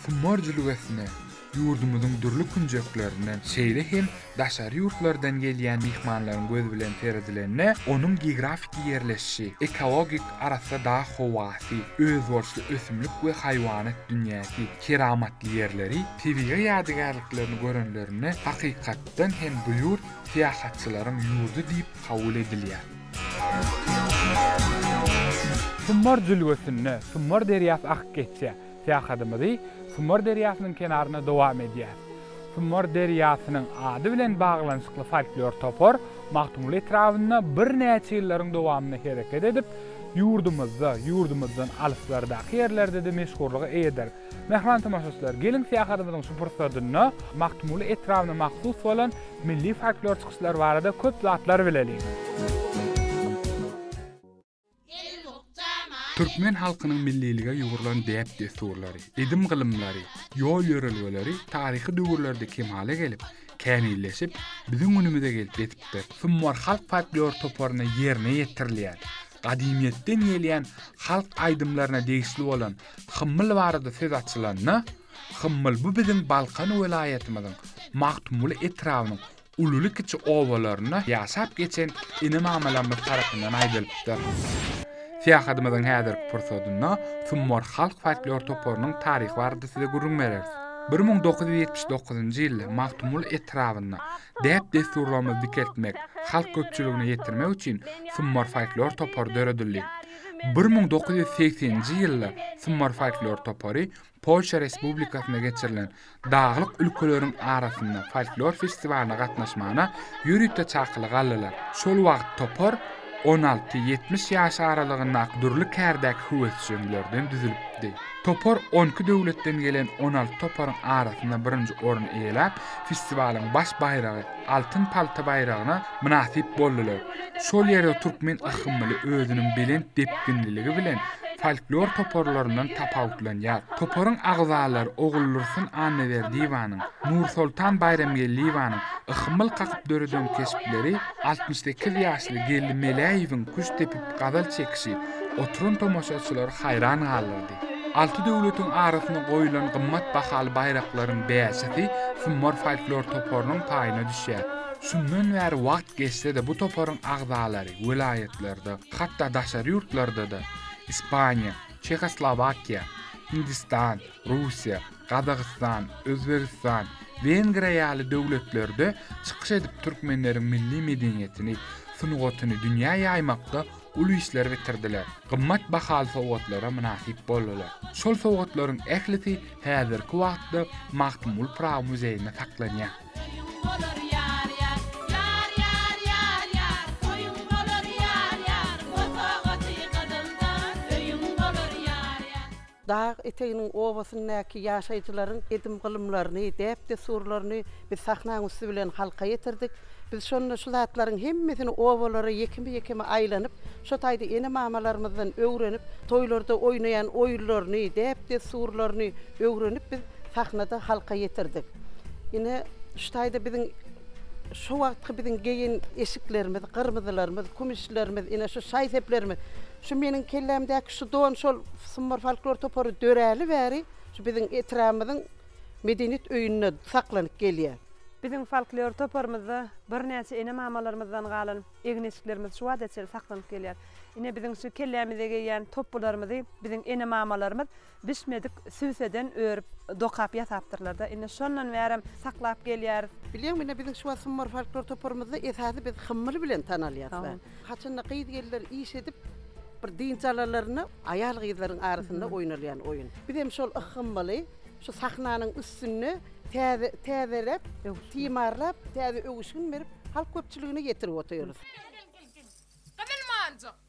Humor jülgesine ýurdumyzyň dürli künjeklerinden, şeýle hem daşary ýurtlardan gelýän myhmanlaryň gözi bilen seredilende, onuň geografiki ýerleşişi, ekologik arassa dag howasy, özboluşly ösümlik we haýwanat dünýäsi, keramatly ýerleri, tebigy ýadygärliklerini görenlerinde hakykatdan hem bu ýurt syýahatçylaryň ýurdy diýip kabul edilýär. Summar jülgesinde Summar derýasy akyp geçýär. Syýahatymyzy Summar derýasynyň kenarynda dowam edýäris. Summar derýasynyň ady bilen baglanyşykly folklor topar Magtymguly etrabynda birnäçe ýyllaryň dowamynda hereket edip, ýurdumyzda, ýurdumyzdan alyslardaky ýerlerde-de meşhurlyga eýedir. Mähriban tomaşaçylar, geliň syýahatymyzyň şu pursadynda Magtymguly etrabyna mahsus bolan milli folklor çykyşlary barada köp zatlar bileliň. Türkmen halkynyň millilige ýugrulan däp-dessurlary, edim-gylymlary, ýol-ýörelgeleri taryhy döwürlerde kemala gelip, kämilleşip, biziň günümize gelip ýetipdir. Sumbar halk folklor toparyna ýerine ýetirilýän Gadymyýetden gelýän halk aýdymlaryna degişli bolan Hymmyl barada söz açylanda, Hymmyl bu biziň Balkan welaýatymyzyň Magtymguly etrabynyň ululy-kiçi obalarynda ýaşap geçen ene-mamalarymyz tarapyndan aýdylypdyr. Syýahatymyzyň häzirki pursadynda Summor halk folklor toparynyň taryhy barada size gürrüň bereris. Bir müň dokuz ýüz ýetmiş dokuzynjy ýylda Magtymguly etrabynda däp-dessurlarymyzy dikeltmek, halk köpçüligine ýetirmek üçin Summar folklor topary döredildi. Bir müň dokuz ýüz segseninji ýylda Summar folklor topary Polşa Respublikasynda geçirilen Daglyk ülkeleriň arasynda folklor festiwalyna gatnaşmagyna ýörite çakylyk aldylar. Şol wagt topar On alty, ýetmiş ýaş aralygyndaky dürli kärdäki höwesjeňlerden düzülipdi. Topar on iki döwletden gelen on alty toparyň arasynda birinji orny eýeläp, festiwalyň baş baýragy, altyn palta baýragyna mynasyp boldular. Şol ýerde türkmen yhmyly özüniň belent depginliligi bilen folklor toparlaryndan tapawutlanýar. Toparyň agzalary Oguldursun Annaberdiýewanyň, Nursoltan Baýramgeldiýewanyň yhmyl kakyp döreden keşpleri, Altmyş sekiz ýaşly Geldi Meläýewiň küşt depip gazal çekişi oturan tomaşaçylary haýran galdyrdy. Alty döwletiň arasyna goýulan gymmat bahaly baýraklaryň bäşisi Summar folklor toparynyň paýyna düşýär. Şundan bäri wagt geçse-de bu toparyň agzalary welaýatlarda, hatda daşary ýurtlarda-da, Ispaniýa, Çehoslowakiýa, Hindistan, Russiýa, Gazagystan, Özbegistan, Wengriýa ýaly döwletlerde çykyş edip türkmenleriň milli medeniýetini, sungatyny dünýä ýaýmakda uly işler bitirdiler, gymmat bahaly sowgatlara mynasyp boldular. Şol sowgatlaryň ählisi häzirki wagtda Magtymguly Pyragy muzeýinde saklanýar. Dag eteginiň obasyndaky ýaşaýjylaryň edim-gylymlaryny, däp-dessurlaryny biz sahnaň üsti bilen halka ýetirdik. Biz şonda şu zatlaryň hemmesini obalara ýekeme-ýekeme aýlanyp, şo taýda ene-mamalarymyzdan öwrenip, toýlarda oýnaýan oýunlaryny, däp-dessurlaryny öwrenip biz sahnada halka ýetirdik. Ine, şu taýda biziň şo wagtky biziň geýen eşiklerimiz, gyrmyzylarymyz, kümüşlerimiz, ine, şu şaý-seplerimiz. Şu meniň kellämdäki şu don şol Sumbar folklor topary döräli bäri şu biziň etrabymyzyň medeniýet öýünde saklanyp gelýär. Biziň folklor toparymyzda birnäçe ene-mamalarymyzdan galan egin-eşiklerimiz şu wagta çenli saklanyp gelýär. Ine biziň şu kellämize geýýän topbularymyzy biziň ene-mamalarymyz Bişmedik sübseden örüp, dokap ýasapdyrlar-da. Indi şondan bärem saklap gelýäris. Bilýäňmi, ine, biziň Şubat Summar folklor toparymyzda esasy biz Hymmyl bilen tanalýarys-da. Haçanda gyz-gelinler iş edip, bir dynç alanlarynda aýal-gyzlaryň arasynda oýnalýan oýun. Biz hem şol Hymmyly şu sahnanyň üstünde täze, täzeläp, timarlap, täze öwüşgin berip, halk köpçüligine ýetirip otyrys. Gel, gel, gel, gel. Gyzyl monjuk!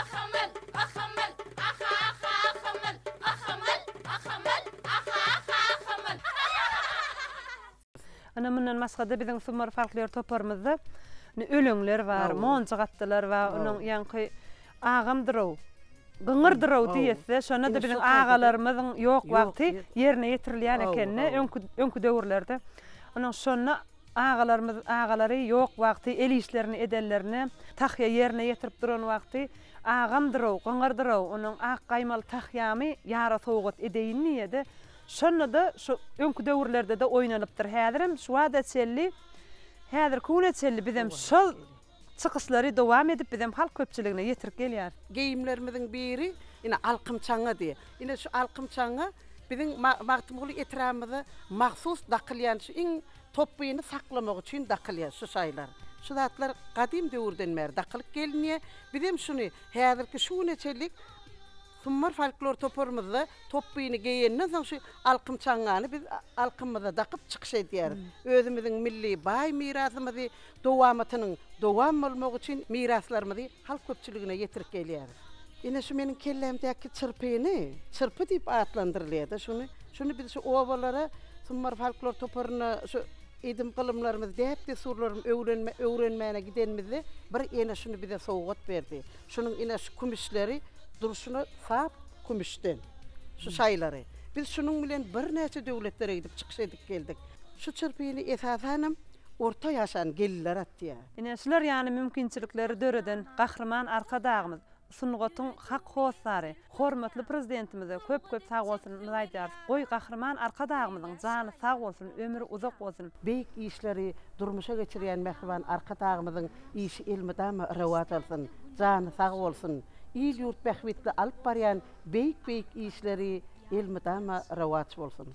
Ahamal, ahamal, aha, aha, ahamal, ahamal, ahamal, aha, aha, ahamal. Ynha mundan başga-da biziň Sumar folklor toparymyzda indi öleňler bar, monjuk atdylar bar, onuň ýaňky Agamdyr-ow, Gyňyrdyr-ow diýesi, şonda-da biziň agalarymyzyň ýok wagty ýerine ýetirilýän ekeni, öňki, öňki döwürlerde. Onuň şonda Agalarymyz agalary ýok wagty el işlerini edenlerine, tahýa ýerine ýetirip duran wagty, Agamdyr-ow, gyňyrdyr-ow, onuň ak gaýmaly tahýamy ýara sowgat edeýin diýýä-de, şonda-da şu öňki döwürlerde-de oýnanypdyr, häzirem şu bada çenli, häzirki güne çenli bizem şol Çykyşlary dowam edip bizem halk köpçüligine ýetirip gelýäris. Geýimlerimiziň biri ine alkym çaňady. Ine şu alkym çaňy biziň Magtymguly etrabymyza mahsus dakylýan şu iň topbyny saklamak üçin dakylýar şu şaýlar. Şu zatlar gadym döwürden bäri dakylyp gelinýär. Bizem şuny häzirki şu güne çenlik Summar folklor toparymyzda topbyny geýenden soň şu alkym çaňňany biz alkymyza dakyp çykyş edýäris. Özümiziň milli baý mirasymyzy dowamatynyň dowam bolmagy üçin miraslarymyzy halk köpçüligine ýetirip gelýäris. Ine şu meniň kellämdäki çyrpyny çyrpy diýip atlandyrylýar-da şuny. Şuny biz şu obalara Summar folklor toparyna şu edim-gylymlarymyzy, däp-dessurlarym öwrenme öwrenmäne gidenimizde bir ene şuny bize sowgat berdi. Şunuň ine şu kümüşleri durşuna sap kümüşden şu şaýlary. Biz şunuň bilen birnäçe döwletlere gidip çykyş edip geldik. Şu çyrpyny esasanam orta ýaşan gelinler atýar. Ine şular ýaly mümkinçilikleri döreden Gahryman Arkadagymyz, sungatyň hak hossary, Hormatly Prezidentimize köp köp sagbolsunymyzy aýdýarys. Goý Gahryman Arkadagymyzyň jany sag bolsun, ömri uzak bolsun. Beýik işleri durmuşa geçirýän mähriban Arkadagymyzyň işi elmydama rowaç alsyn, jany sag bolsun. Il-ýurt bähbitli alyp barýan beýik-beýik işleri elmydama rowaç bolsun.